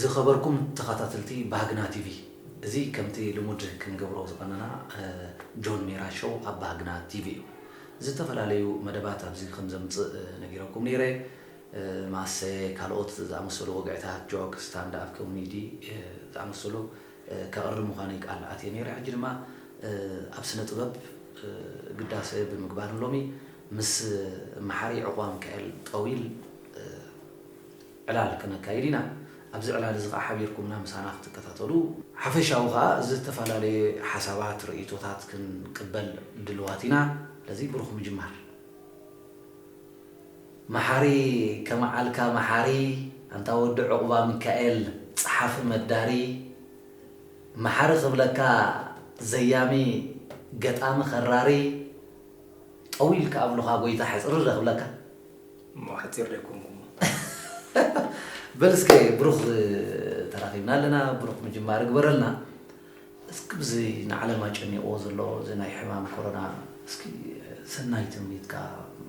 ዝኸበርኩም ተኻታትልቲ ባህግና ቲቪ እዚ ከምቲ ልሙድ ክንገብሮ ዝቐነና ጆን ሜራ ሾው ኣብ ባህግና ቲቪ እዩ ዝተፈላለዩ መደባት ኣብዚ ከምዘምጽእ ነጊረኩም ኔረ ማሰ ካልኦት ዝኣመሰሉ ወግዕታት ጆክ ስታንድ ኣፕ ኮሚዲ ዝኣመሰሉ ከቕርብ ምዃነይ ቃል ኣትየ ኔረ ሕጂ ድማ ኣብ ስነ ጥበብ ግዳሰ ብምግባር ሎሚ ምስ መሓሪ ዕቑባ ምካኤል ጠዊል ዕላል ከነካይድ ኢና። ኣብዚ ዕላል እዚ ከኣ ሓቢርኩምና ምሳና ክትከታተሉ። ሓፈሻዊ ከኣ እዚ ዝተፈላለየ ሓሳባት ርእይቶታት ክንቅበል ድልዋት ኢና። ስለዚ ብሩኽ ምጅማር። መሓሪ ከመዓልካ መሓሪ ኣንታ ወዲ ዑቕባሚካኤል ጸሓፊ መዳሪ መሓሪ ክብለካ ዘያሚ ገጣሚ ከራሪ ጠዊል ክኣብሉኻ ጎይታ ሕጽርረ ክብለካ። እሞ ሓጺር ዶ ኣይኮንኩን? በል እስከ ብሩኽ ተራኺብና ኣለና፣ ብሩኽ ምጅማር እግበረልና። እስኪ ብዚ ንዓለም ኣጨኒቕዎ ዘሎ እዚ ናይ ሕማም ኮሮና እስኪ ሰናይ ትምኒትካ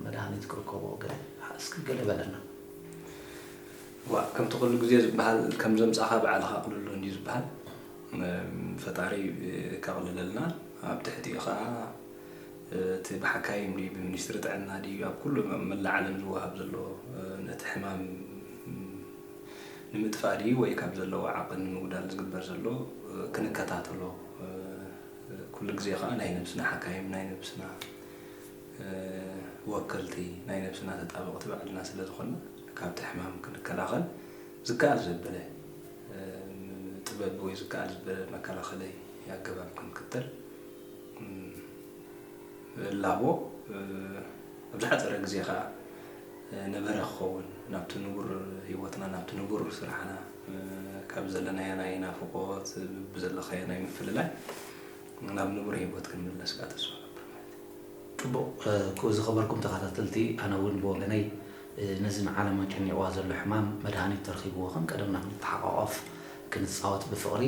መድሃኒት ክርከቦ ገለ እስኪ ገለ በለና። ዋእ ከምቲ ኩሉ ግዜ ዝበሃል ከም ዘምጻኻ ባዕልኻ ኣቕልሎ እንድዩ ዝበሃል። ፈጣሪ ከቕልለልና ኣብ ትሕቲኡ ከኣ እቲ ብሓካይም ድዩ ብሚኒስትሪ ጥዕና ድዩ ኣብ ኩሉ ኣብ መላእ ዓለም ዝወሃብ ዘሎ ነቲ ሕማም ንምጥፋእ ድዩ ወይ ካብ ዘለዎ ዓቕን ንምጉዳል ዝግበር ዘሎ ክንከታተሎ ኩሉ ግዜ ከኣ ናይ ነብስና ሓካይም ናይ ነብስና ወከልቲ ናይ ነብስና ተጣበቕቲ ባዕልና ስለ ዝኾንና ካብቲ ሕማም ክንከላኸል ዝከኣል ዘበለ ጥበብ ወይ ዝከኣል ዝበለ መከላኸለይ ኣገባብ ክንክተል ላቦ ኣብ ዝሓጸረ ግዜ ከኣ ነበረ ክኸውን ናብቲ ንቡር ህይወትና ናብቲ ንቡር ስራሕና ካብ ዘለናዮ ናይ ናፍቖት ብዘለካዮ ናይ ምፍልላይ ናብ ንቡር ህይወት ክንምለስ ከኣ ተስፋ ገብር ማለት እዩ። ጽቡቕ ክቡር ዝኸበርኩም ተኻታተልቲ ኣነ እውን ብወገነይ ነዚ ንዓለም ኣጨኒቕዋ ዘሎ ሕማም መድሃኒት ተርኺብዎ ከም ቀደምና ክንተሓቛቖፍ ክንጻወት ብፍቕሪ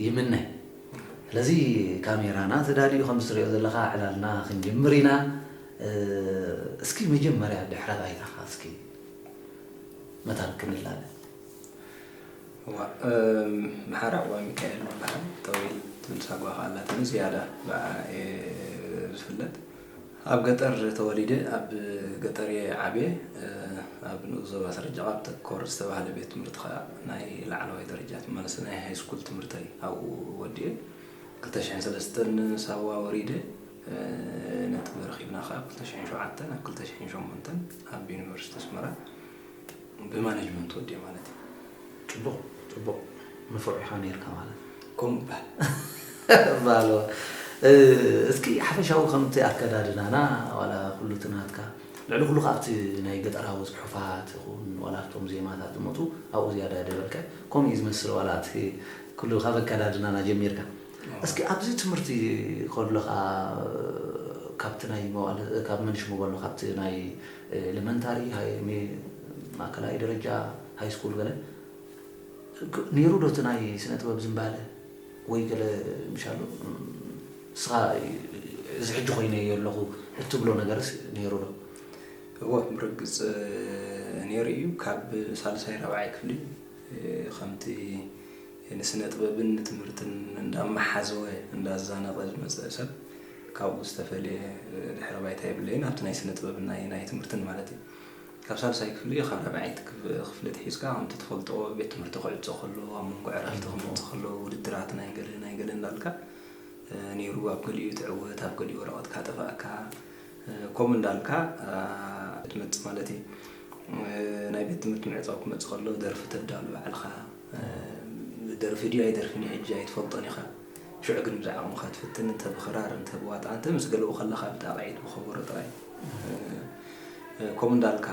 ይምነ ስለዚ ካሜራና ተዳልዩ ከምዚ ትሪኦ ዘለኻ ዕላልና ክንጅምር ኢና እስኪ መጀመርያ ድሕረ ባይታኻ እስኪ መታን ክንላለ መሓራ እዋ ሚካኤል ይበሃል ጠዊል ትብል ሳጓ ከኣ ኣላትኒ ዝያዳ ብኣኣ እየ ዝፍለጥ ኣብ ገጠር ተወሊደ ኣብ ገጠር'የ ዓብየ። ኣብ ንኡስ ዞባ ሰረጀቓብ ተኮር ዝተባህለ ቤት ትምህርቲ ከኣ ናይ ላዕለዋይ ደረጃ ትማልሲ ናይ ሃይስኩል ትምህርተይ ኣብኡ ወዲኤ ክልተ ሽሕን ሰለስተን ሳዋ ወሪደ ነጥቢ ረኺብና ከኣ ኣብ ክልተ ሽሕን ሸውዓተን ኣብ ክልተ ሽሕን ሸሞንተን ኣብ ዩኒቨርሲቲ ኣስመራ ብማነጅመንት ወዲኣ ማለት እዩ ፅቡቅ ፅቡቅ ንፉዕ ኢካ ነይርካ ማለት ከምኡ ይበሃል ባሎ እስኪ ሓፈሻዊ ከምቲ ኣከዳድናና ዋላ ኩሉ እቲ ናትካ ልዕሊ ኩሉ ከዓ ኣብቲ ናይ ገጠራዊ ፅሑፋት ይኹን ዋላ ኣብቶም ዜማታት ዝመፁ ኣብኡ ዝያዳ ደበልካ ከምኡ እዩ ዝመስል ዋላ እቲ ኩሉ ካብ ኣከዳድናና ጀሚርካ እስኪ ኣብዚ ትምህርቲ ከለኻ ካብቲ ናይ መዋእለ ካብ መንሽ መበሎ ካብቲ ናይ ኤለመንታሪ ማእከላይ ደረጃ ሃይስኩል ገለ ኔሩ ዶ እቲ ናይ ስነ ጥበብ ዝምባለ ወይ ገለ ምሻሉ ንስኻ እዚ ሕጂ ኮይነዮ ኣለኹ እትብሎ ነገርስ ኔሩ ዶ? እወ ብርግጽ ኔሩ እዩ ካብ ሳልሳይ ራብዓይ ክፍሊ ከምቲ ንስነጥበብን ንትምህርትን እንዳመሓዘወ እንዳዛነቐ ዝመጸ ሰብ ካብኡ ዝተፈልየ ድሕረ ባይታ የብለይን ኣብቲ ናይ ስነጥበብን ናይ ናይ ትምህርትን ማለት እዩ። ካብ ሳልሳይ ክፍሊ ካብ ራብዓይቲ ክፍሊ ኣትሒዝካ ከምቲ ትፈልጦ ቤት ትምህርቲ ክዕጾ ከሎ ኣብ መንጎ ዕረፍቲ ክመጹ ከለዉ ውድድራት ናይ ገለ ናይ ገለ እንዳልካ ነይሩ ኣብ ገሊኡ ትዕወት ኣብ ገሊኡ ወረቐትካ ጠፋእካ ከምኡ እንዳልካ ትመጽእ ማለት እዩ። ናይ ቤት ትምህርቲ ምዕጻው ክመጽእ ከሎ ደርፊ ተዳሉ ባዕልኻ። ደርፊ ድዩ ኣይደርፍን እዩ ሕጂ ኣይትፈልጦን ኢኻ ሽዑ ግን ብዝዓቕምኻ ትፍትን እንተ ብኽራር እንተ ብዋጣ እንተ ምስ ገለኡ ከለኻ ብጣቕዒት ብኸበሮ ጥራይ ከምኡ እንዳልካ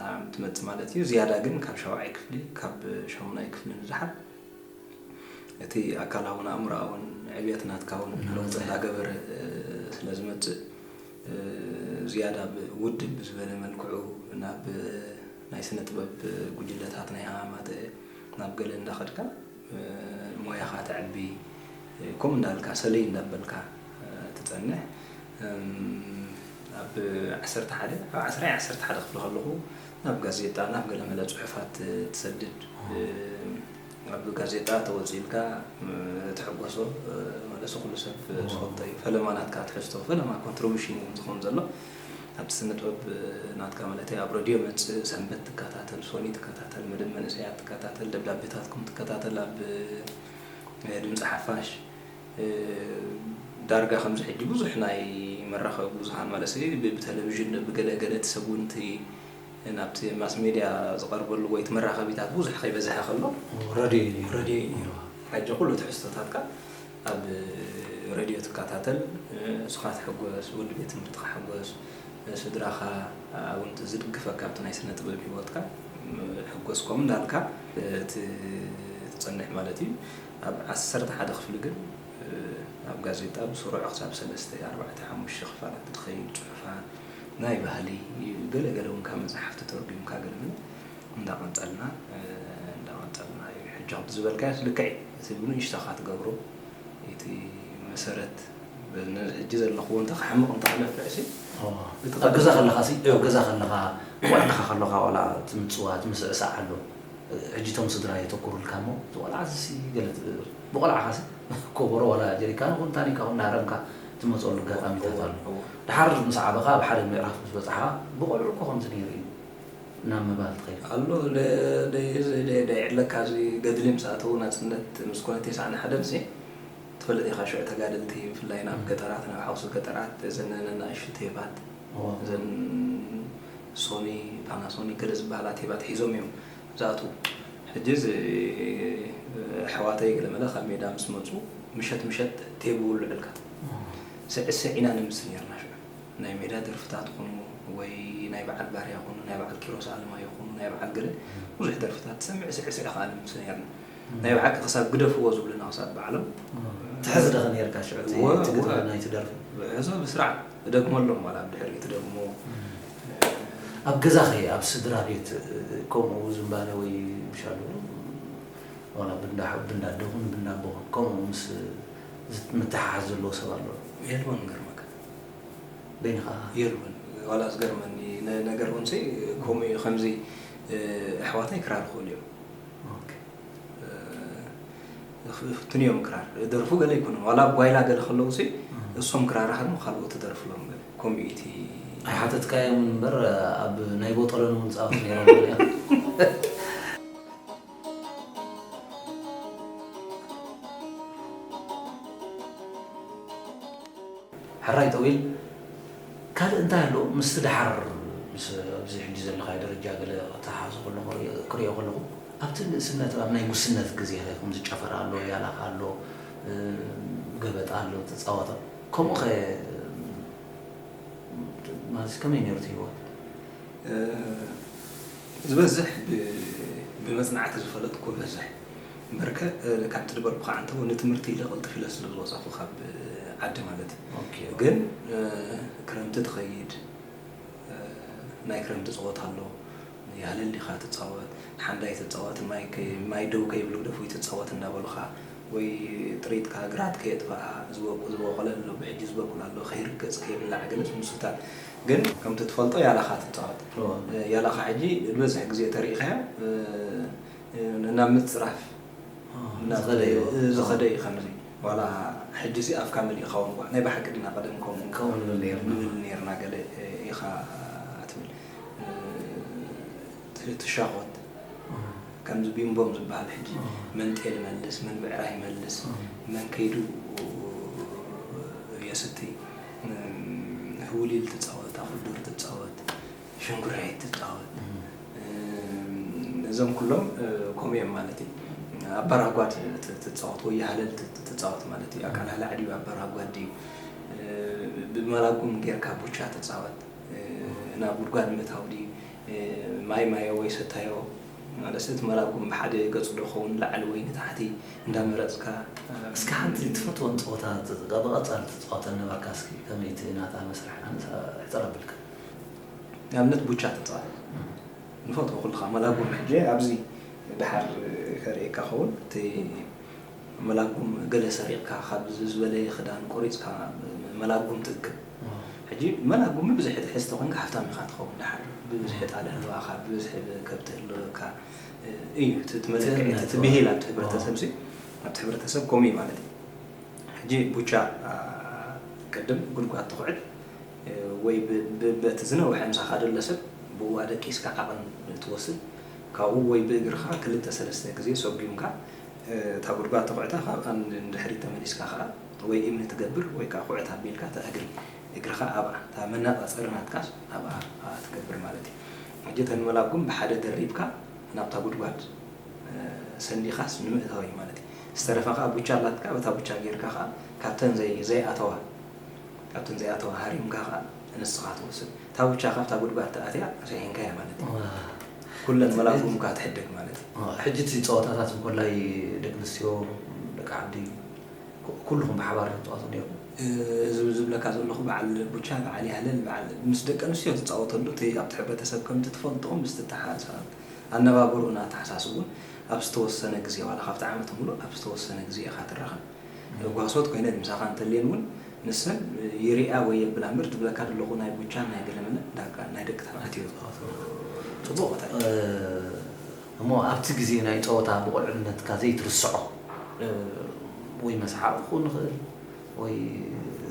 ኣም ትመጽእ ማለት እዩ ዝያዳ ግን ካብ ሻውዓይ ክፍሊ ካብ ሻሙናይ ክፍሊ ንደሓር እቲ ኣካላውን ኣእምሮኣውን ዕብየት ናትካ እውን ለውጢ እንዳገበረ ስለ ዝመጽእ ዝያዳ ብ ውድብ ብዝበለ መልክዑ ናብ ናይ ስነ ጥበብ ጉጅለታት ናይ ኣማተ ናብ ገለ እንዳ ከድካ ሞያኻ ተዕቢ ከምኡ እንዳ በልካ ሰለይ እንዳ በልካ ትጸንሕ እም ኣብ ዓሰርተ ሓደ ኣብ ዓስራ ይ ዓሰርተ ሓደ ክፍሊ ከለኹ ናብ ጋዜጣ ናብ ገለ መለ ጽሑፋት ትሰድድ ብ ኣብ ጋዜጣ ተወጺእልካ ትሕጎሶ መለሱ ኩሉ ሰብ ዝፈልጦ እዩ ፈለማ ናትካ ትሕዝቶ ፈለማ ኮንትርቡሽን እዩ ዝኮን ዘሎ ኣብቲ ስነጥበብ ናትካ ማለተይ ኣብ ረድዮ መጽእ ሰንበት ትከታተል ሶኒ ትከታተል መደብ መንእሰያት ትከታተል ደብዳቤታትኩም ትከታተል ኣብ ድምጺ ሓፋሽ ዳርጋ ከምዚ ሕጂ ብዙሕ ናይ መራከቢ ብዙሃን ማለሰይ ብተለቪዥን ብገለ ገለ እቲ ሰብ ውን እቲ ናብቲ ማስ ሜድያ ዝቐርበሉ ወይ እቲ መራኸቢታት ብዙሕ ከይበዝሐ ከሎ ረድዮ እዩ ነይሩ። ረድዮ እዩ ነይሩ። ሕጂ ኩሉ ትሕዝቶታትካ ኣብ ረድዮ ትከታተል፣ ንስኻ ትሕጎስ፣ ወዲ ቤት ትምህርትኻ ሕጎስ፣ ስድራኻ እውን እቲ ዝድግፈካ ኣብቲ ናይ ስነ ጥበብ ሂወትካ ሕጎስ ከምኡ እንዳልካ እቲ ትጸንሕ ማለት እዩ። ኣብ ዓሰርተ ሓደ ክፍሊ ግን ኣብ ጋዜጣ ብስሩዕ ክሳብ ሰለስተ ኣርባዕተ ሓሙሽተ ክፋላት እትኸይድ ጽሑፋት፣ ናይ ባህሊ ገለ ገለ ውን ካብ መጻሕፍቲ ተርጉምካ ገለ ገለ እንዳ ቀንጸልና እንዳ ቀንጸልና ዩ ሕጂ ከምቲ ዝበልካዮስ ልክዕ ዩ እቲ ብንእሽቶኻ ትገብሮ እቲ መሰረት በዚ ሕጂ ዘለኽዎ እንተ ክሓምቕ እንተ ክለፍዕሲ እቲ ኣብ ገዛ ከለኻሲ ኣብ ገዛ ከለኻ ቆልዓኻ ከሎኻ ዋላ እቲ ምጽዋት ምስዕሳዕ ኣሎ ሕጂ እቶም ስድራ የተኩሩልካ እሞ እቲ ቆልዓዚሲ ገለ ትብር ብቆልዓኻሲ ኮቦሮ ዋላ ጀሪካን ኹን ታኒካ ኹን እናሃረምካ ትመጸሉ ኣጋጣሚታት ኣሎ ደሓር ምስ ዓበኻ ኣብ ሓደ ምዕራፍ ምስ በጻሕኻ ብቆልዑ እኮ ከምዚ ነይሩ እዩ ናብ ምባል ትኸይድ። ኣሎ ደይዕለካ እዚ ገድሊ ምስ ኣተዉ ናጽነት ምስ ኮነ ቴስዓን ሓደንሲ ትፈልጥ ኢኻ ሽዑ ተጋደልቲ ብፍላይ ናብ ገጠራት ናብ ሓውሲ ገጠራት እዘን ነናእሽቱ ቴባት እዘን ሶኒ ፓናሶኒክ ገለ ዝበሃላ ቴባት ሒዞም እዮም ዝኣትዉ ሕጂ እዚ ኣሕዋተይ ገለመለ ካብ ሜዳ ምስ መጹ ምሸት ምሸት ቴብ ይውልዑልካ። ስዕስዕ ኢና ነምስል ኔርና ሽዑ ናይ ሜዳ ደርፍታት ኩኑ ወይ ናይ በዓል ባርያ ኩኑ ናይ በዓል ኪሮስ ኣለማዮ ኩኑ ናይ በዓል ገለ ብዙሕ ደርፍታት ትሰምዕ ስዕስዕ ከኣ ነምስ ኔርና ናይ ብሓቂ ክሳብ ግደፍዎ ዝብሉና ክሳብ ባዕሎም ትሕዝ ዶ ኔርካ ሽዑ እቲ ግጥሚ ናይቲ ደርፊ? ሕዞ ብስርዓት እደግመሎም ዋላ ኣብ ድሕሪኡ ትደግሞ። ኣብ ገዛ ከ ኣብ ስድራ ቤት ከምኡ ዝንባለ ወይ ምሻሉ ዋላ ብእንዳ ኣደኹም ብእንዳ ኣቦኹም ከምኡ ምስ ዝት ምትሓሓዝ ዘለዎ ሰብ ኣሎ ዶ? የልቦን ክገርመካ። በይንኻ ኢኻ? የልቦን ዋላ ዝገርመኒ ነ ነገር ውን ሲ ከምኡ ኢዩ ከምዚ ኣሕዋተይ ክራር ይኽእሉ ኢዮም። ኦኬ። እ ክፍትኑ ኢዮም ክራር ደርፉ ገለ ኣይኮኑን ዋላ ኣብ ጓይላ ገለ ከለዉ ሲ እሶም ክራር ይሃድሙ ካልኦት ትደርፍሎም ገለ ከምኡ ኢዩ እቲ ኣይሓተትካዮምን እምበር ኣብ ናይ ቦጦሎኒ ውን ዝጻወቱ ነይሮም ገሊኦም። ሕራይ ጠዊል ካልእ እንታይ ኣሎ ምስቲ ደሓር ምስ ኣብዚ ሕጂ ዘለኻዮ ደረጃ ገለ ከተሓሓዞ ከለኹ ክሪኦ ከለኹ ኣብቲ ንእስነት ኣብ ናይ ጉስነት ግዜ ከም ዝጨፈር ኣሎ ያላኽ ኣሎ ገበጣ ኣሎ ትፃወቶ ከምኡ ከ ማለት ከመይ ነይሩ እቲ ህይወት ዝበዝሕ ብመጽናዕቲ ዝፈለጥኩዎ በዝሕ እምበርከ ካብ ትድበርኩ ካዓ እንተወ ንትምህርቲ ኢለ ቅልጥፍ ኢለ ስለ ዝወጻኩ ካብ ዓዲ ማለት ግን ክረምቲ ትከይድ ናይ ክረምቲ ጸወታ ኣሎ ያሃለሊካ ትጻወት ሓንዳይ ትጻወት ማይ ደው ከይብሉ ግደፉይ ትጻወት እንዳበሉካ ወይ ጥሪትካ ግራት ከየጥፈኣ ዝወቅዝበቆለ ኣሎ ብሕጂ ዝበቁል ኣሎ ከይርገጽ ከይብላዕ ገለ ዝምሱታት ግን ከምቲ ትፈልጦ ያላኻ ትጻወት ያላኻ ሕጂ ዝበዝሕ ግዜ ተሪኢኻዮ ናብ ምጽራፍ ዝኸደ እዩ ከምዚ ዋላ ሕጂሲ ኣፍካ መሊእኻ ውን እኳ ናይ ብሓቂ ድና ቀደም ከምኡ ንብል ኔርና ገለ ኢኻ ትብል ትሻኾት ከምዚ ቢምቦም ዝበሃል ሕጂ መን ጤል ይመልስ መን ብዕራይ ይመልስ መን ከይዱ የስትይ ህውሊል ትፃወት፣ ኣኹልዱር ትፃወት፣ ሸንጉራይት ትፃወት ነዞም ኩሎም ከምኡ እዮም ማለት እዩ። ኣባራጓድ ትፃወት ወይ ሃለል ትፃወት ማለት እዩ። ኣቃላላዕ ድዩ ኣባራጓድ ድዩ ብመላጉም ጌርካ ቡቻ ትፃወት ናብ ጉድጓድ ምእታው ድዩ ማይ ማዮ ወይ ሰታዮ ማለሰ እቲ መራጎም ብሓደ ገጹ ዶ ክኸውን ንላዕሊ ወይ ንታሕቲ እንዳመረጽካ። እስከ ሓንቲ ትፈትወን ጸወታ ብቐጻሊ ትጻወተን ነበርካ እስኪ ከመይ እቲ ናታ መስርሕ ኣነስ ሕጽር ኣብልካ። ንኣብነት ቡቻ ተጻወት ንፈትዎ ኩልኻ መራጎም ሕጂ ኣብዚ ድሓር ከርእየካ ክኸውን እቲ። መላጉም ገለ ሰሪቕካ ካብ ዝበለየ ክዳን ቆሪጽካ መላጉም ትእክብ ሕጂ መላጉም ብብዝሒ ትሕዝ ተኮንካ ሃፍታም ኢካ ትከውን ድሓር ብብዝሒ ጣል ህልዋካ ብብዝሒ ከብቲ ህልወካ እዩ እቲ እቲ መለክዒ እቲ እቲ ብሂል ኣብቲ ሕብረተሰብ ሲ ኣብቲ ሕብረተሰብ ከምኡ እዩ ማለት እዩ ሕጂ ቡቻ ቅድም ጉድጓድ ትኹዕት ወይ በቲ ዝነውሐ ምሳኻ ደሎ ሰብ ብኡ ኣደቂስካ ዓቕን ትወስድ ካብኡ ወይ ብእግርኻ ክልተ ሰለስተ ግዜ ሰጉምካ እታ ጉድጓድ ተኹዕታ ካብኣ ንድሕሪት ተመሊስካ ከኣ ወይ እምኒ ትገብር ወይ ከኣ ኩዕት ኣቢልካ እታ እግሪ እግርኻ ኣብኣ እታ መነጻጸሪ ናትካስ ኣብኣ ኣብኣ ትገብር ማለት እዩ። ሕጂ እተን መላጉም ብሓደ ደሪብካ ናብታ ጉድጓድ ሰንዲኻስ ንምእታው እዩ ማለት እዩ። ዝተረፈ ከኣ ቡቻ ኣላትካ በታ ቡቻ ጌርካ ከኣ ካብተን ዘይ ዘይኣተዋ ካብተን ዘይኣተዋ ሃሪምካ ከኣ ንስኻ ትወስድ። እታ ቡቻ ካብታ ጉድጓድ ተኣትያ ሪሒንካያ ማለት እዩ። ኩለን መላጉም እካ ትሕደግ ማለት እዩ። ሕጂ እቲ ጸወታታት እንኮላይ ደቂ ኣንስትዮ ደቂ ዓዲ ኩሉኹም ብሓባር ዶ ትጻወቱ ኔርኩም? እዚ ዝብለካ ዘለኹ በዓል ቡቻ በዓል ያህለል በዓል ምስ ደቂ ኣንስትዮ ትጻወተሉ እቲ ኣብቲ ሕብረተሰብ ከምቲ ትፈልጥኦ ምስ ትተሓሳሰብ ኣነባብርኡን ኣተሓሳስብኡን ኣብ ዝተወሰነ ግዜ ዋላ ካብቲ ዓመት ምሉእ ኣብ ዝተወሰነ ግዜ ኢኻ ትራኸብ ጓሶት ኮይነን ምሳኻ እንተልየን ውን ንሰን ይርእያ ወይ የብላ እምበር ዝብለካ ደለኹ ናይ ቡቻን ናይ ገለመለን ዳርጋ ናይ ደቂ ተባዕትዮ ዝኸፍእ ጽቡቕ ቦታ እዩ። እሞ ኣብቲ ግዜ ናይ ጸወታ ብቆልዕነትካ ዘይትርስዖ ወይ መስሓቕ ክኹን ይኽእል ወይ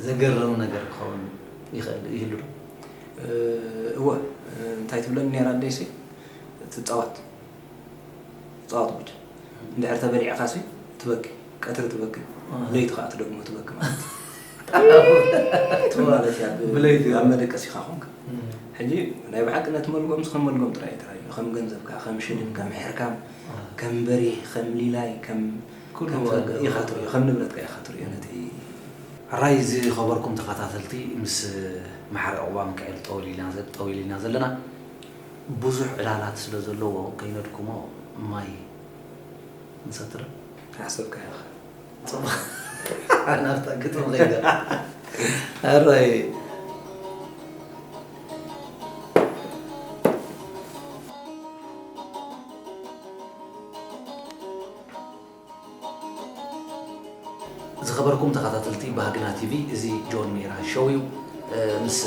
ዘገርም ነገር ክኸውን ይኽእል ይህሉ ዶ? እወ እንታይ ትብለኒ ኔራ ኣደይሲ ትጻወት። ጸዋት ጉድ እንድሕር ተበሊዕካሲ ትበኪ ቀትሪ ትበኪ ለይቲ ከኣ ትደግሞ ትበኪ ማለት ማለት እያ ብለይቲ ኣብ መደቀሲካ ኮንካ ሕጂ ናይ ብሓቂ ነቲ መልጎም ከም መልጎም ጥራይ እዩ ተራዩ ከም ገንዘብካ ከም ሽልን ከም ሕርካም ከም በሪህ ከም ሊላይ ከም ኢኻ ትርእዮ ከም ንብረትካ ኢኻ ትርእዮ ነቲ ሕራይ ዝኸበርኩም ተኸታተልቲ ምስ መሓሪ ዑቕባ ምካኤል ጠወሊልና ጠዊሊና ዘለና ቡዙሕ ዕላላት ስለ ዘለዎ ከይነድክሞ ማይ ንሰትር። ሓሰብካዮ ኢኻ ጽቡቕ ናብታ ግጥሚ ከይደ ኣራይ ዝኸበርኩም ተኻታተልቲ ባህግና ቲቪ እዚ ጆን ሜራ ሸው እዩ ምስ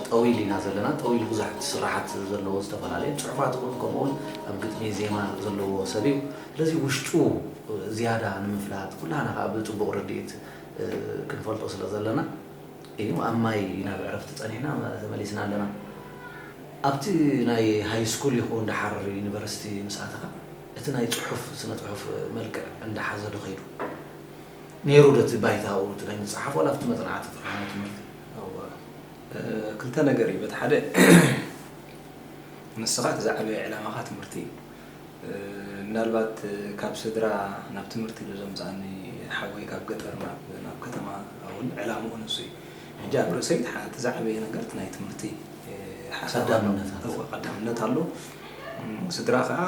ጠዊል ኢና ዘለና ጠዊል ብዙሕ ስራሓት ዘለዎ ዝተፈላለየ ፅሑፋት እውን ከምኡ እውን ኣብ ግጥሚ ዜማ ዘለዎ ሰብ እዩ ስለዚ ውሽጡ ዝያዳ ንምፍላጥ ኩላና ከዓ ብፅቡቅ ርድኢት ክንፈልጦ ስለ ዘለና እዩ ኣብ ማይ ኢና ብዕረፍቲ ፀኒሕና ተመሊስና ኣለና ኣብቲ ናይ ሃይስኩል ይኹን ደሓር ዩኒቨርሲቲ ምስ ኣተኻ እቲ ናይ ጽሑፍ ስነ ጽሑፍ መልክዕ እንዳ ሓዘ ዶ ከይዱ ኔሩ ዶ እቲ ባይታኡ እቲ ናይ ምጽሓፍ ዋላ ኣብቲ መጽናዕቲ ተፈሃመ ትምህርቲ እወ ክልተ ነገር እዩ በቲ ሓደ ንስኻ እቲ ዝዓበየ ዕላማኻ ትምህርቲ እዩ ምናልባት ካብ ስድራ ናብ ትምህርቲ ዶ ዘምጽኣኒ ሓወይ ካብ ገጠር ናብ ናብ ከተማ እውን ዕላምኡ ንሱ እዩ ሕጂ ኣብ ርእሰይ እቲ ዝዓበየ ነገር እቲ ናይ ትምህርቲ ሓሳብ ኣሎ ቀዳምነት ኣሎ ስድራ ከኣ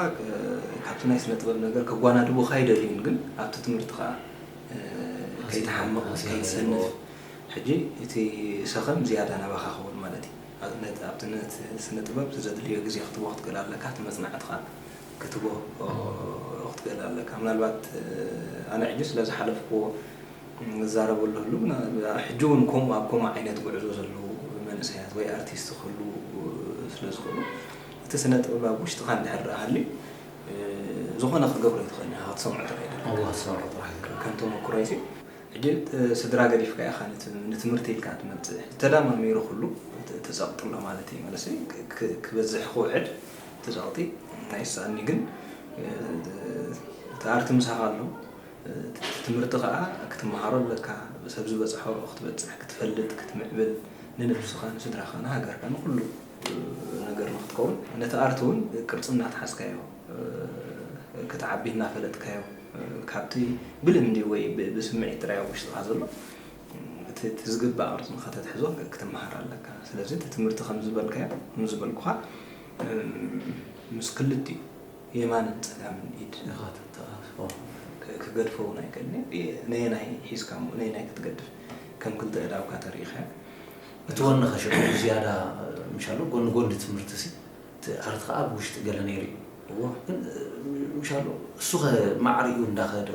ካብቲ ናይ ስነ ጥበብ ነገር ከጓናድቡካ ኣይደልዩን ግን ኣብቲ ትምህርቲ ከኣ ከይትሓምቅ ከይትሰንፍ ሕጂ እቲ ሰከም ዝያዳ ናባካ ክውን ማለት እዩ ነት ኣብቲ ነት ስነ ጥበብ ዘድልዮ ግዜ ክትቦ ክትክእል ኣለካ እቲ መጽናዕትካ ክትቦ ክትክእል ኣለካ ምናልባት ኣነ ሕጂ ስለ ዝሓለፍክዎ ንዛረበሉ ህልውና ሕጂ ውን ከምኡ ኣብ ከምኡ ዓይነት ጉዕዞ ዘለዉ መንእሰያት ወይ ኣርቲስት ክህልዉ ስለ ዝኽእሉ እቲ ስነ ጥበብ ኣብ ውሽጥኻ እንድሕር ደኣ ሃልዩ ዝኾነ ክትገብሮ ኣይትኽእልን ኢኻ ክትሰምዖ ጥራይ ኢኻ ኣዋ ክትሰምዖ ጥራይ ኢኻ ከም ተመኩሮይ ሲ ሕጂ ስድራ ገዲፍካ ኢኻ ንትምህርቲ ኢልካ ትመጽእ ተዳማሚሩ ኩሉ እቲ ጸቕጢ ኣሎ ማለት እዩ መንእሰይ ክበዝሕ ክውሕድ እቲ ጸቕጢ ኣይስኣንዩ ግን እቲ ኣርቲ ምሳኻ ኣሎ እቲ ትምህርቲ ከኣ ክትመሃሮ ኣለካ፣ ሰብ ዝበጽሖ ክትበጽሕ፣ ክትፈልጥ፣ ክትምዕብል፣ ንነብስኻ፣ ንስድራኻ፣ ንሃገርካ፣ ንኹሉ ነገር ንኽትከውን፣ ነቲ ኣርት ውን ቅርጺ እናትሓዝካዮ ክትዓቢ እናፈለጥካዮ ካብቲ ብልምዲ ወይ ብስምዒት ጥራይ ኣብ ውሽጥኻ ዘሎ እቲ ዝግባእ ቅርጺ ንኸተትሕዞ ክትመሃር ኣለካ። ስለዚ እቲ ትምህርቲ ከምዝበልካዮ ከምዝበልኩኻ ምስ ክልቲኡ የማንን ጸጋምን ኢድ እኻ ተተኣፋፍኦ ክገድፎ ውን ኣይክእልን'የ ነየናይ ሒዝካ እሞ ነየናይ ክትገድፍ ከም ክልተ እዳውካ ተሪኢኻያ እቲ ወኒ ከሸግር ብዝያዳ ምሻሎ ጎኒ ጎኒ ትምህርቲ'ሲ እቲ ኣርት ከኣ ኣብ ውሽጢ ገለ ነይሩ እዩ እወ ግን ምሻሎ እሱኸ ማዕሪኡ እንዳኸደ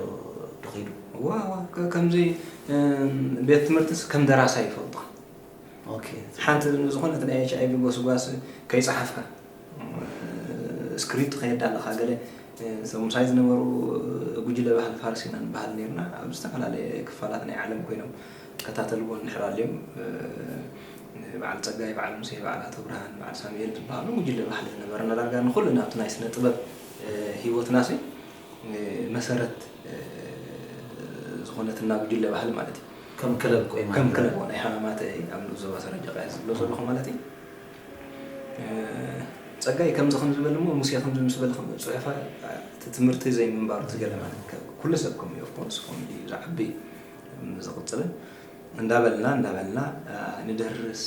ዶ ከይዱ እወ እወ ከምዚ ቤት ትምህርትስ ከም ደራሳይ ይፈልጦ ኦኬ ሓንቲ ዝኾነት ናይ ኤች ኣይቪ ጎስጓስ ከይጸሓፍካ ስክሪፕት ከየዳለኻ ገለ ሰሙሳይ ዝነበሩ ጉጅለ ባህሊ ፋርስ ኢና ንበሃል ነርና ኣብ ዝተፈላለየ ክፋላት ናይ ዓለም ኮይኖም ይከታተልዎ እንድሕር ኣልዮም በዓል ጸጋይ በዓል ሙሴ በዓል ኣቶ ብርሃን በዓል ሳሙኤል ዝበሃሉ ጉጅለ ባህሊ ዝነበርና ዳርጋ ንኹሉ ናብቲ ናይ ስነ ጥበብ ህይወትና ሲ መሰረት ዝኾነትና ጉጅለ ባህሊ ማለት እዩ ከም ክለብ ኮይና ከም ክለብ ናይ ሃማማተ ኣብ ንኡስ ዞባ ሰረጀቃ ዝብሎ ዘለኹ ማለት እዩ ጸጋይ ከምዚ ከም ዝበል እሞ ሙሴ ከምዚ ምስ በለ ከም ጽሑፋ እቲ ትምህርቲ ዘይምንባሩ ትገለ ማለት ኩሉ ሰብ ከም እዩ ኦፍኮርስ ከም እዩ ዝዓቢ ዝቕጽልን እንዳበልና እንዳበልና ንደርስ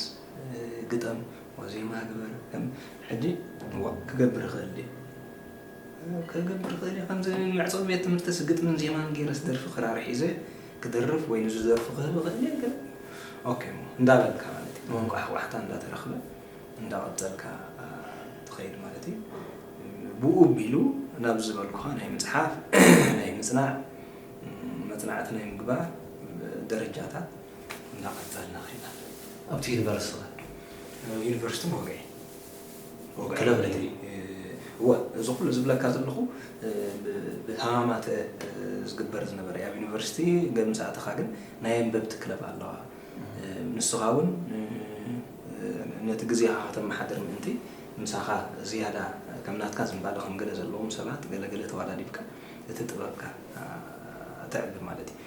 ግጠም ወዜማ ግበር ከም ሕጂ ክገብር ይኽእል ድዩ ክገብር ይኽእል ከምዚ መዕጸዊ ቤት ትምህርቲስ ግጥምን ዜማን ገይረስ ደርፊ ክራር ሒዘ ክደርፍ ወይ ንዙ ደርፉ ክህብ እኽእል እየ ግን ኦኬ እሞ እንዳበልካ ማለት እዩ ሞንጎ ኣሕዋሕታ እንዳተረኽበ እንዳቐፀልካ ትኸይድ ማለት እዩ ብኡ ቢሉ ናብ ዝበልኩኻ ናይ ምፅሓፍ ናይ ምፅናዕ መፅናዕቲ ናይ ምግባር ደረጃታት እንዳቐፀልና ኸይና ኣብቲ ዩኒቨርስቲ ዩኒቨርስቲ ሞገ ክለብ ንግሪ እወ እዚ ኩሉ ዝብለካ ዘለኹ ብሃማማተ ዝግበር ዝነበረ ኣብ ዩኒቨርሲቲ ገምስ ኣተኻ ግን ናይ ኣንበብቲ ክለብ ኣለዋ ንስኻ እውን ነቲ ግዜኻ ከተመሓድር ምእንቲ ምሳኻ ዝያዳ ከም ናትካ ዝንባለ ከም ገለ ዘለዎም ሰባት ገለ ገለ ተዋዳዲብካ እቲ ጥበብካ ተዕቢ ማለት እዩ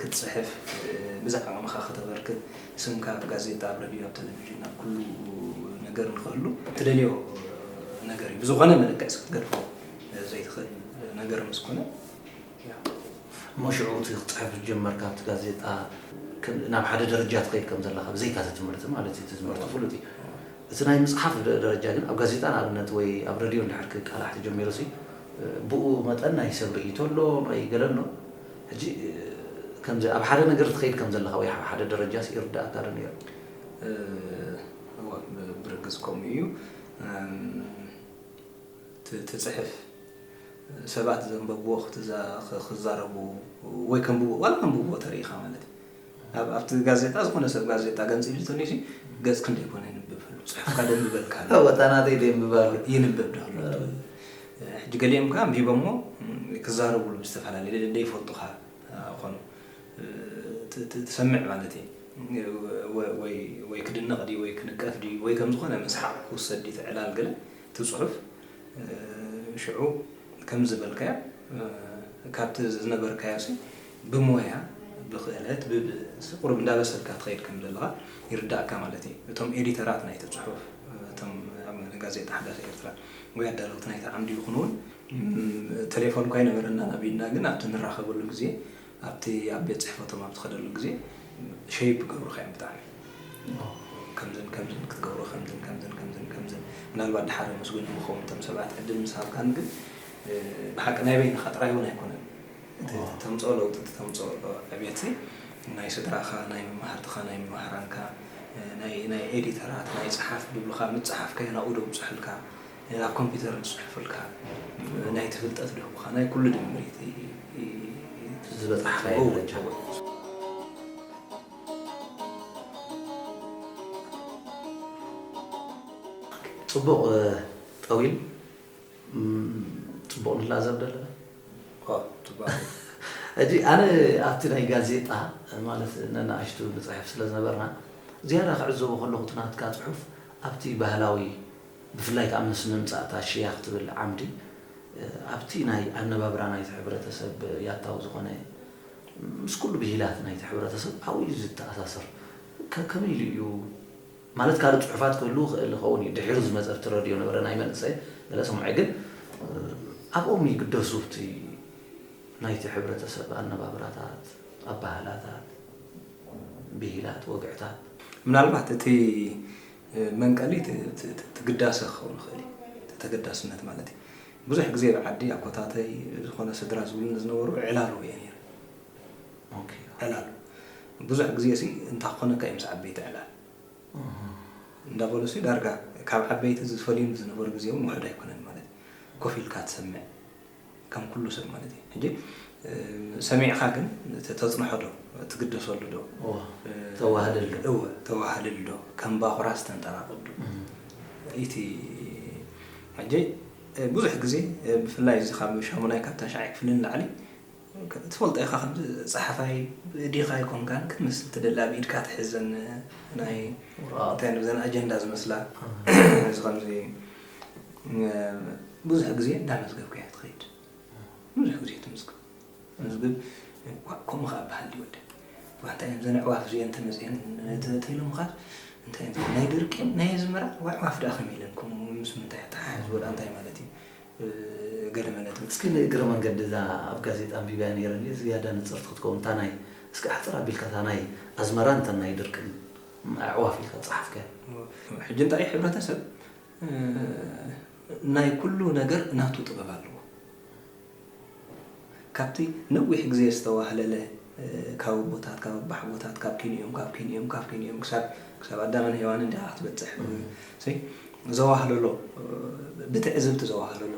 ክትጽሕፍ፣ ብዛዕባ ዓቕምኻ ከተበርክት፣ ስምካ ኣብ ጋዜጣ፣ ኣብ ረድዮ፣ ኣብ ተለቪዥን፣ ኣብ ኩሉ ነገር ንኽህሉ ትደልዮ ነገር እዩ። ብዝኾነ መለክዕስ ክትገድፎ ዘይትኽእል ነገር ምስ ኮነ ያው። እሞ ሽዑ እቲ ክትጽሕፍ ዝጀመርካ ኣብቲ ጋዜጣ ከም ናብ ሓደ ደረጃ ትኸይድ ከም ዘለኻ ብዘይካ እቲ ትምህርቲ ማለት እዩ፣ እቲ ትምህርቲ ፍሉጥ እዩ። እቲ ናይ ምጽሓፍ ደረጃ ግን ኣብ ጋዜጣ ንኣብነት ወይ ኣብ ረድዮ እንድሕር ክቃላሕ ተጀሚሩሲ ብኡ መጠን ናይ ሰብ ርእይቶ ኣሎ ናይ ገለ ኣሎ። ሕጂ ከምዚ ኣብ ሓደ ነገር ትኸይድ ከም ዘለኻ ወይ ኣብ ሓደ ደረጃስ ይርድኣካ ዶ ነይሩ? እወ ብርግጽ ከምኡ እዩ። እቲ ትጽሕፍ ሰባት ዘንበብዎ ክዛረቡ ወይ ከንብብዎ ዋላ ከንብብዎ ተሪኢኻ ማለት እዩ። ኣብ ኣብቲ ጋዜጣ ዝኾነ ሰብ ጋዜጣ ገንጺሉ ተልዩሲ ገጽ ክንደይ ኮን የንብብ ኣሎ ጽሑፍካ ደንብበልካ ኣሎ ወታ ናተይ ደንብብ ኣሎ ይንብብ ዶ ኣሎ ሕጂ ገሊኦም ከኣ ኣንቢቦሞ ክዛረብሉ ብዝተፈላለየ ደይፈልጡኻ ኾኑ ትሰምዕ ማለት እዩ ወይ ክድነቕ ድዩ ወይ ክንቀፍ ድዩ ወይ ከም ዝኾነ መስሓቕ ክውሰድ ድዩ ትዕላል ገለ እቲ ጽሑፍ ሽዑ ከም ዝበልካዮ ካብቲ ዝነበርካዮሲ ብሞያ ብክእለት ብብእሲ ቁሩብ እንዳበሰልካ ትኸይድ ከም ዘለኻ ይርዳኣካ ማለት እዩ። እቶም ኤዲተራት ናይቲ ጽሑፍ እቶም ኣብ ጋዜጣ ሓዳስ ኤርትራ ወይ ኣዳለውቲ ናይቲ ዓምዲ ይኹኑ ውን ተሌፎንኳ ኣይነበረናን ኣብ ኢድና ግን ኣብቲ ንራኸበሉ ግዜ ኣብቲ ኣብ ቤት ጽሕፈቶም ኣብ ትኸደሉ ግዜ ሸይፕ ይገብሩኻ እዮም ብጣዕሚ ከምዝን ከምዝን ክትገብሮ ከምዝን ከምዝን ከምዝን ከምዝን ምናልባት ድሓር የመስግኖም ይኸውን እቶም ሰባት ዕድል ምስ ሃብካኒ ግን ብሓቂ ናይ በይንኻ ጥራይ ውን ኣይኮነን እቲ እተምጽኦ ለውጢ እቲ ተምጽኦ ዕብየትሲ ናይ ስድራኻ ናይ መማህርትኻ ናይ መማህራንካ ናይ ናይ ኤዲተራት ናይ ጸሓፍ ድብሉኻ ምጽሓፍ ከየናኡ ደብጹሑልካ ኣብ ኮምፒተር ድጽሑፉልካ ናይቲ ፍልጠት ድህቡኻ ናይ ኩሉ ድምሪት እቲ ዝበጻሕካዮ ደረጃ እዩ። ጽቡቕ ጠዊል ፅቡቅ ንላዘብ ደለና እጂ ኣነ ኣብቲ ናይ ጋዜጣ ማለት ነናእሽቱ ንፅሕፍ ስለ ዝነበርና ዝያዳ ክዕዘቦ ከለኹ እቲ ናትካ ፅሑፍ ኣብቲ ባህላዊ ብፍላይ ከዓ ምስ ምምፃእ እታ ሽያ ክትብል ዓምዲ ኣብቲ ናይ ኣነባብራ ናይቲ ሕብረተሰብ ያታዊ ዝኾነ ምስ ኩሉ ብሂላት ናይቲ ሕብረተሰብ ኣብኡ እዩ ዝተኣሳሰር ከመይ ኢሉ እዩ ማለት ካልእ ጽሑፋት ክህልው ይኽእል ይኸውን እዩ ድሒሩ ዝመጸ ኣብቲ ረድዮ ነበረ ናይ መንእሰይ ገለ ሰሙዐ ግን ኣብኦም ይግደሱ ኣብቲ ናይቲ ሕብረተሰብ ኣነባብራታት ኣባህላታት ብሂላት ወግዕታት ምናልባት እቲ መንቀሊ እቲ ግዳሰ ክኸውን ይኽእል እዩ እቲ ተገዳስነት ማለት እዩ ብዙሕ ግዜ ኣብ ዓዲ ኣኮታተይ ዝኾነ ስድራ ዝብሉኒ ዝነበሩ ዕላሉ እየ ነይረ ዕላል ብዙሕ ግዜሲ እንታይ ክኾነካ እዩ ምስ ዓበይቲ ዕላል እንዳበሉሲ ዳርጋ ካብ ዓበይቲ ዝፈልዩኒ ዝነበሩ ግዜ እውን ውሑድ ኣይኮነን ማለት እዩ። ኮፍ ኢልካ ትሰምዕ ከም ኩሉ ሰብ ማለት እዩ። ሕጂ ሰሚዕኻ ግን ተጽንሖ ዶ ትግደሰሉ ዶ ተዋህልል ዶ እወ ተዋህልል ዶ ከም ባኹራስ ተንጠራቕብ ዶ ኢቲ ሕጂ ብዙሕ ግዜ ብፍላይ እዚ ካብ ሻሙናይ ካብ ታሽዓይ ክፍሊ ንላዕሊ ትፈልጦ ኢኻ ከምዚ ጸሓፋይ ብኢዲኻ ኣይኮንካን ክትመስል ትደሊ ኣብ ኢድካ ትሕዘን ናይ እንታይ ንብል ዘን ኣጀንዳ ዝመስላ እዚ ከምዚ ብዙሕ ግዜ እንዳመዝገብካ እያ ትኸይድ ብዙሕ ግዜ ትምዝግብ መዝግብ ከምኡ ከኣ በሃል ድዩ ወደይ ዋንታ እዮም ዘን ኣዕዋፍ እዚአን ተመፅየን ተኢሎምኻ እንታይ ናይ ድርቂ ናይ ኣዝመራ ኣዕዋፍ ደኣ ከመይ ኢለን ከምኡ ምስ ምንታይ ተሓሕዝዎ ደኣ እንታይ ማለት እዩ ገለ መለትን እስኪ ንእግረ መንገዲ እዛ ኣብ ጋዜጣ ኣንቢበያ ነይረ እንድየ ዝያዳ ንጽርቲ ክትከውን እታ ናይ እስኪ ኣሕጽር ኣቢልካ እታ ናይ ኣዝመራን እተን ናይ ድርቅን ኣዕዋፍ ኢልካ ዝጸሓፍካያ። ሕጂ እንታይ እዩ ሕብረተሰብ ናይ ኩሉ ነገር ናቱ ጥበብ ኣለዎ ካብቲ ነዊሕ ግዜ ዝተዋህለለ ካብ ኣቦታት ካብ ኣባሓጎታት ካብ ኪን እዮም ካብ ኪን እዮም ካብ ኪን እዮም ክሳብ ክሳብ ኣዳምን ሄዋንን ዲኻ ክትበጽሕ ሲ ዘዋህለሎ ብትዕዝብቲ ዘዋህለሎ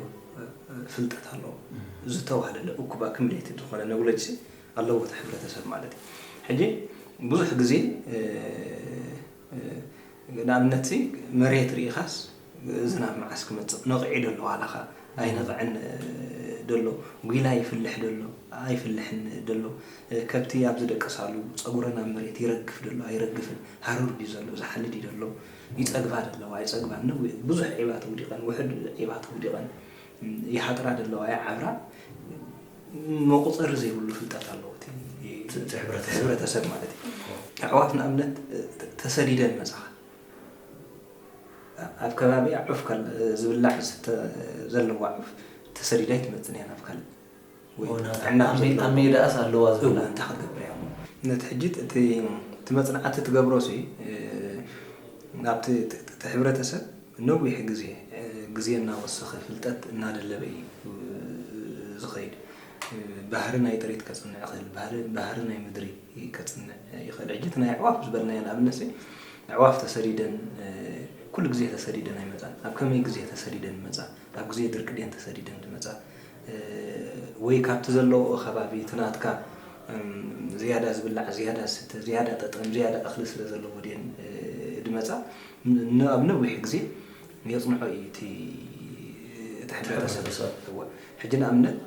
ፍልጠት ኣሎ ዝተዋህለለ እኩብ ኣክምሌትድ ዝኾነ ነውለጅ ሲ ኣለዎ እቲ ሕብረተሰብ ማለት እዩ ሕጂ ብዙሕ ግዜ ንኣብነት ሲ መሬት ርኢኻስ ዝናብ መዓስ ክመጽእ ነቒዑ ዶ ኣሎ ዋላ ከኣ ኣይነቕዐን ዶ ኣሎ፣ ጒላ ይፍልሕ ዶ ኣሎ ኣይፍልሕን ዶ ኣሎ፣ ከብቲ ኣብ ዝደቅሳሉ ጸጉረን ኣብ መሬት ይረግፍ ዶ ኣሎ ኣይረግፍን፣ ሃሩር ድዩ ዘሎ ዝሓልድ ዶ ኣሎ፣ ይጸግባ ዶ ኣለዋ ኣይጸግባን፣ ነዊሕ ብዙሕ ዒባ ተውዲቐን ውሑድ ዒባ ተውዲቐን፣ ይሃጥራ ዶ ኣለዋ ይዓብራ፣ መቑጸሪ ዘይብሉ ፍልጠት ኣለዎ እቲ ሕብረተሰብ ማለት እዩ። ኣሕዋት ንኣብነት ተሰዲደን መጻኻ ኣብ ከባቢኣ ዑፍ ካልእ ዝብላዕ ዝስተ ዘለዋ ዑፍ ተሰዲዳ ኣይትመጽን እያ ናብ ካልእ ወይ ኦና ጥዕና ኣብ ዘለዋ ኣብ ሜዳኣስ ኣለዋ እው ዝብላዕ እንታይ ክትገብር እያ እሞ ነቲ ሕጂ እቲ እቲ መጽናዕቲ ትገብሮሲ ናብቲ እቲ ሕብረተሰብ ነዊሕ ግዜ ግዜ እናወሰኸ ፍልጠት እናደለበ እዩ ዝኸይድ ባህሪ ናይ ጥሪት ከጽንዕ ይኽእል ባህሪ ባህሪ ናይ ምድሪ ከጽንዕ ይኽእል። ሕጂ እቲ ናይ ኣዕዋፍ ዝበልናዮ ንኣብነትሲ ኣዕዋፍ ተሰዲደን ኩሉ ግዜ ተሰዲደን ኣይመጻን። ኣብ ከመይ ግዜ ተሰዲደን ይመጻ? ኣብ ግዜ ድርቂ ድየን ተሰዲደን ዝመጻ? ወይ ካብቲ ዘለውኦ ከባቢ እቲ ናትካ ዝያዳ ዝብላዕ፣ ዝያዳ ዝስተ፣ ዝያዳ ጠጠም፣ ዝያዳ እኽሊ ስለዘለዎ ድየን ዝመጻ? ኣብ ነዊሕ ግዜ የጽንዖ እዩ እቲ እቲ ሕብረተሰብ። እወ ሕጂ ንኣብነት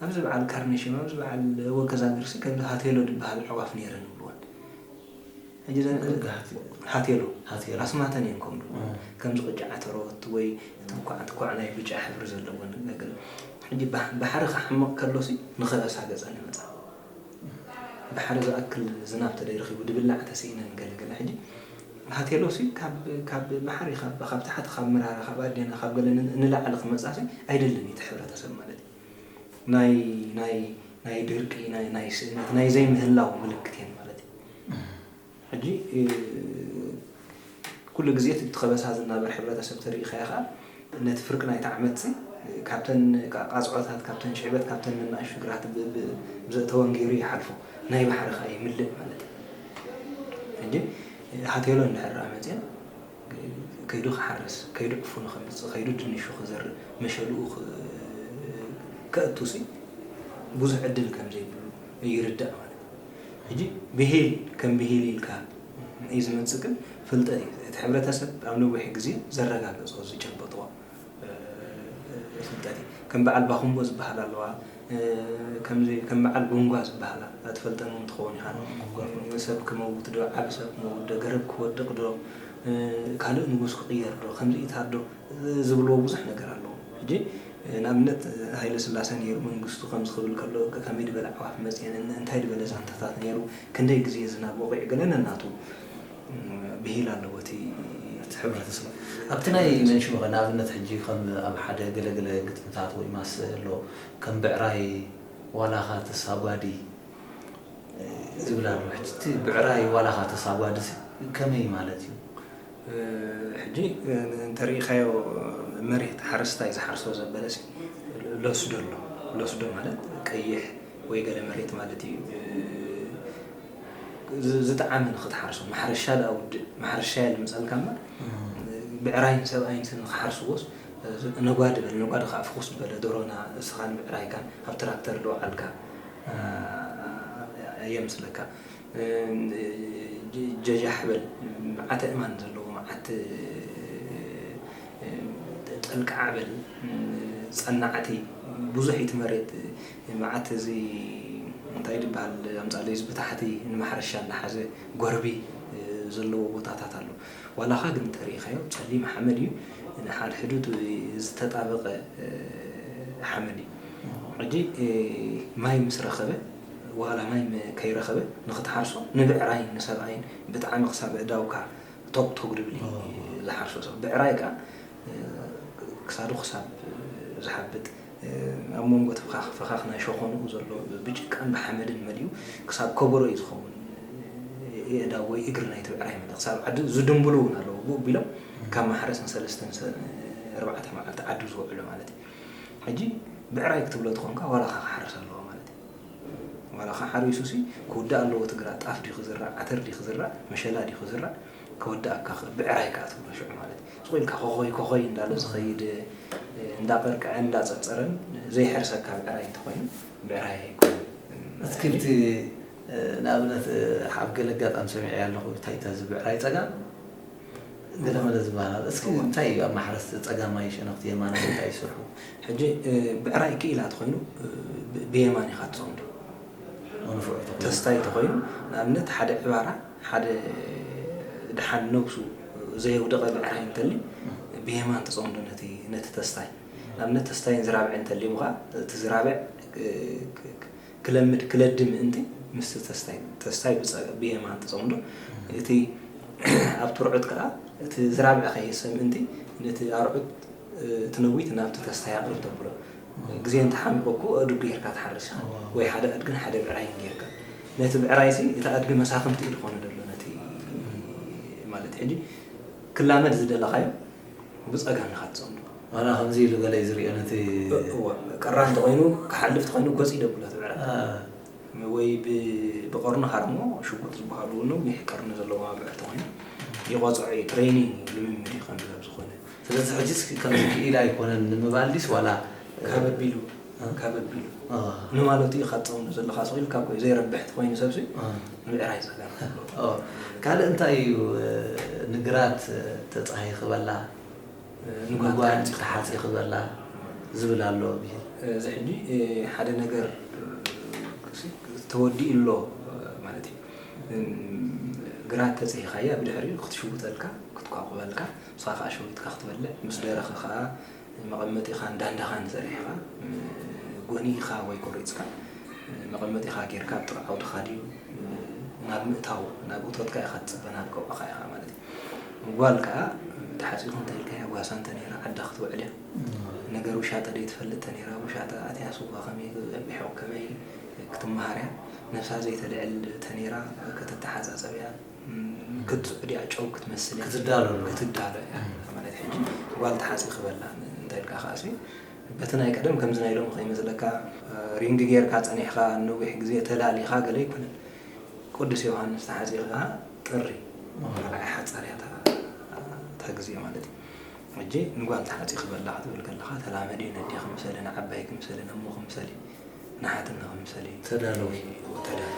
ኣብዚ በዓል ካርነሽም ኣብዚ በዓል ወከዛሚርሲ ከምዚ ሃቴሎ ድበሃል ኣዕዋፍ ነይረን ይብልወን። ሕጂ እዘን ሃቴሎ ኣስማተን እየን ከምኡ ድብልዎ ከምዚ ቅጫ ዓተሮት ወይ እቲ እንኳዕ ኳዕ ናይ ብጫ ሕብሪ ዘለወን ገለ ሕጂ ባሕሪ ክሓምቕ ከሎሲ ንኸረሳገጸን ይመጻ። ድሓር ዝኣክል ዝናብ ተደይ ረኺቡ ድብላዕ ተሲኢነን ገለ ገለ ሕጂ ሃቴሎሲ ካብ ካብ ብሓሪ ካብ ካብ ታሕቲ ካብ ምራራ ካብ ኣዴና ካብ ገለ ንላዕሊ ክመጻሲ ኣይደልን ኢቲ ሕብረተሰብ ማለት እዩ ናይ ናይ ናይ ድርቂ ናይ ናይ ስእነት ናይ ዘይምህላው ምልክት እየን ማለት እዩ። ሕጂ ኩሉ ግዜ እቲ ብትከበሳ ዝናበር ሕብረተሰብ ተሪኢካዮ ከኣ ነቲ ፍርቂ ናይቲ ዓመትሲ ካብተን ቃጽዖታት ካብተን ሽዕበት ካብተን ነናእሽ ሽግራት ብዘእተወን ጌሩ ይሓልፎ ናይ ባሕሪ ከኣ ይምልእ ማለት እዩ ሕጂ ሃቴሎ እንድሕር ደኣ መጽየን ከይዱ ክሓርስ ከይዱ ዕፉኑ ከምጽእ ከይዱ ድንሹ ክዘርእ መሸልኡ ከእቱሲ ብዙሕ ዕድል ከምዘይብሉ ይርዳእ ማለት እዩ ሕጂ ብሂል ከም ብሂል ኢልካ እዩ ዝመጽእ ግን ፍልጠት እዩ እቲ ሕብረተሰብ ኣብ ነዊሕ ግዜ ዘረጋገጾ ዝጨበጦ ፍልጠት እዩ ከም በዓል ባኹምቦ ዝበሃላ ኣለዋ ከምዚ ከም በዓል ቡንጓ ዝበሃላ ኣትፈልጠን እውን ትኸውን ኢኻ ሰብ ክመውት ዶ ዓቢ ሰብ ክመውት ዶ ገረብ ክወድቕ ዶ ካልእ ንጉስ ክቕየር ዶ ከምዚ ኢታት ዶ ዝብልዎ ብዙሕ ነገር ኣሎ ሕጂ ንኣብነት ሃይለ ስላሰ ኔሩ መንግስቱ ከምዚ ክብል ከሎ ከመይ ድበለ ኣዕዋፍ መጽየን እን እንታይ ድበለ ዛንታታት ኔሩ ክንደይ ግዜ ዝናብ ወቂዑ ገለ ነናቱ ብሂል ኣለዎ እቲ ሕብረተሰብ ኣብቲ ናይ መንሽሮ ንኣብነት ሕጂ ከም ኣብ ሓደ ገለ ገለ ግጥምታት ወይ ማሰ ኣሎ ከም ብዕራይ ዋላካ ተሳጓዲ ዝብል ኣሎ ሕጂ እቲ ብዕራይ ዋላካ ተሳጓዲ እዚ ከመይ ማለት እዩ? ሕጂ እንተሪኢኻዮ መሬት ሓረስታይ ዝሓርሶ ዘበለሲ ለስዶ ኣሎ። ለስዶ ማለት ቀይሕ ወይ ገለ መሬት ማለት ኢዩ። ዝጠዓመ ንኽትሓርሶ ማሕረሻ ደኣ ውድእ ማሕረሻ የልምጸልካ እምበር ብዕራይን ሰብኣይን ንኽሓርስዎስ ነጓዲ በል ነጓዲ ከዓ ፍኹስ ዝበለ ዶሮና እስኻን ብዕራይካን ኣብ ትራክተር ዶ ዓልካ የምጽለካ። ጀጃሕ በል መዓት ኣእማን ዘለዎ መዓት ጠንቃዕ በል ጸናዕቲ ብዙሕ ኢቲ መሬት መዓት እዚ እንታይ ድበሃል ኣምጻለይ እዚ ብታሕቲ ንማሕረሻ እንዳሓዘ ጎርቢ ዘለዎ ቦታታት ኣሎ ዋላኻ ግን እንተሪኢኻዮ ጸሊም ሓመድ እዩ ንሓድሕዱ ዝተጣበቐ ሓመድ እዩ ሕጂ ማይ ምስ ረኸበ ዋላ ማይ ከይረኸበ ንኽትሓርሶ ንብዕራይን ንሰብኣይን ብጣዕሚ ክሳብ ኣእዳውካ ቶግ ቶግ ድብል እዩ ዝሓርሶ ሰብ ብዕራይ ከኣ ክሳዱ ክሳብ ዝሓብጥ ኣብ መንጎ እቲ ፍኻኽ ፍኻኽ ናይ ሸኾንኡ ዘሎ ብጭቃን ብሓመድን መሊኡ ክሳብ ከበሮ እዩ ዝኸውን የእዳው ወይ እግሪ ናይቲ ብዕራይ መለ ክሳብ ዓዲ ዝድንብሉ እውን ኣለዎ ብኡ ቢሎም ካብ ማሕረስ ንሰለስተን ኣርባዕተ መዓልቲ ዓዱ ዝውዕሉ ማለት እዩ ሕጂ ብዕራይ ክትብሎ ትኾንካ ዋላካ ክሓርስ ኣለዎ ማለት ዋላ ከ ሓሪሱ ሲ ክውዳእ ኣለዎ ትግራ ጣፍ ድዩ ክዝራእ ዓተር ድዩ ክዝራእ መሸላ ድዩ ክዝራእ ከወዳኣካ ከ ብዕራይ ከኣ ትብሎ ሽዑ ማለት እዩ ስቁ ኢልካ ኮኾይ ኮኾይ እንዳሎ ዝኸይድ እንዳቀርቀዐን እንዳጸርጸረን ዘይሕርሰካ ብዕራይ እንተኾይኑ ብዕራይ ኣይኮነን ኣትክልቲ ንኣብነት ኣብ ገለ ኣጋጣሚ ሰሚዐያ ኣለኹ ታይታ እዚ ብዕራይ ጸጋም ገለመለ ዝበሃል እስኪ እንታይ እዩ ኣብ ማሕረስ ጸጋማይ ሸነኽቲ የማናይ እንታይ እዩ ስርሑ? ሕጂ ብዕራይ ክኢላ ተኾይኑ ብየማን ኢኻ ትጸምዶ ንፉዕ ተኾይኑ ተስታይ ተኾይኑ ንኣብነት ሓደ ዕባራ ሓደ ድሓን ነብሱ ዘየውደቐ ብዕራይ እንተሊ ብየማን ትጸምዶ ነቲ ነቲ ተስታይ ንኣብነት ተስታይን ዝራብዕን እንተልዩም ኸኣ እቲ ዝራብዕ ክለምድ ክለዲ ምእንቲ ምስቲ ተስታይ ተስታይ ብጸጋም ብየማን ተጸምዶ እቲ ኣብቲ ርዑት ከኣ እቲ ዝራብዐ ከይህሰ ምእንቲ ነቲ ኣርዑት እቲ ነዊት ናብቲ ተስታይ ኣቕርብ ተብሎ ግዜ እንተ ሓንበኩ ኣእዱግ ጌርካ ትሓርስ ኢኻ ወይ ሓደ ኣድግን ሓደ ብዕራይን ጌርካ ነቲ ብዕራይሲ እቲ ኣድጊ መሳፍንቲ ኢዩ ዝኾኖ ደሎ ነቲ ማለት ሕጂ ክላመድ ዝደለኻዮ ብጸጋም ኢኻ ትጸምዶ። ዋላ ከምዚ ኢሉ ገለ እዩ ዝሪኦ ነቲ። እወ ቀራን እንተኾይኑ ክሓልፍ እንተኾይኑ ገጹ ይደብሎ እቲ ብዕራይ። ወይ ብቐርኑ ሃርሞ ሽጉጥ ዝበሃሉ እውን ነዊሕ ቀርኒ ዘለዎም ኣብዕር እንተኾይኑ ይቐጽዖ እዩ ትሬኒንግ ልምምድ እዩ ከምዚ ከምዝኾነ። ስለዚ ሕጂስ ከምዚ ክኢላ ኣይኮነን ንምባል ድዩስ ዋላ። ካብ ኣቢሉ። እንካ በቢሉ ንማለቱ ኢኻ ትጸምዶ ዘለኻ ስቕ ኢልካ እኮ እዩ ዘይረብሕ እንተኾይኑ ሰብሲ ምዕራይ ጸገም ኣለዎ። ካልእ እንታይ እዩ ንግራት ተጻሂ ክበላ ንጓጓን ተሓጺ ክበላ ዝብል ኣሎ ብሂል። እዚ ሕጂ ሓደ ነገር ተወዲኡ ኣሎ ማለት እዩ። ግራት ተጺሂካያ ብድሕሪኡ ክትሽውጠልካ ክትኳቁበልካ ንስኻ ከኣ ሸዊጥካ ክትበልዕ ምስ ደረኸ ከኣ መቐመጢኻ እንዳንዳኻን ዘርጊሕኻ ጎኒእካ ወይ ቆሪጽካ መቐመጢኻ ጌርካ ኣብ ጥቓ ዓውድኻ ድዩ ናብ ምእታው ናብ እቶትካ ኢኻ ትጽበ ናብ ቀውዕኻ ኢኻ ማለት እዩ ጓል ከኣ ተሓጺኹ እንተኢልካያ ጓሳ እንተነይራ ዓዳ ክትውዕል እያ ነገር ውሻጠ ደይትፈልጥ ተነይራ ውሻጠ ኣትያ ስዋ ከመይ ክጸብሖ ከመይ ክትመሃር እያ ነብሳ ዘይተልዕል ተነይራ ከተተሓጻጸብ እያ ክትጽዑ ድያ ጨው ክትመስል እያ ክትዳሎ ኣለዋ። ክትዳሎ እያ እም። ማለት ሕጂ ጓል ትሓጽቢ ክበላ እንታይ ኢልካ ከኣሲ በቲ ናይ ቀደም ከምዚ ናይ ሎሚ ከይመስለካ ሪንግ ጌርካ ጸኒሕካ ንነዊሕ ግዜ ተላሊኻ ገለ ኣይኮነን ቁዱስ ዮውሃንስ ተሓጺቢ ከኣ ጥሪ ካልኣይ ሓጻር እያ እታ እታ ግዜ ማለት እዩ ሕጂ ንጓል ትሓጺ ክበላ ክትብል ከለኻ ተላመዲ ነዲ ክምሰሊ ንዓባይ ክምሰሊ ነሞ ክምሰሊ ንሓትኒ ክምሰሊ ተዳለዊ ተዳለዊ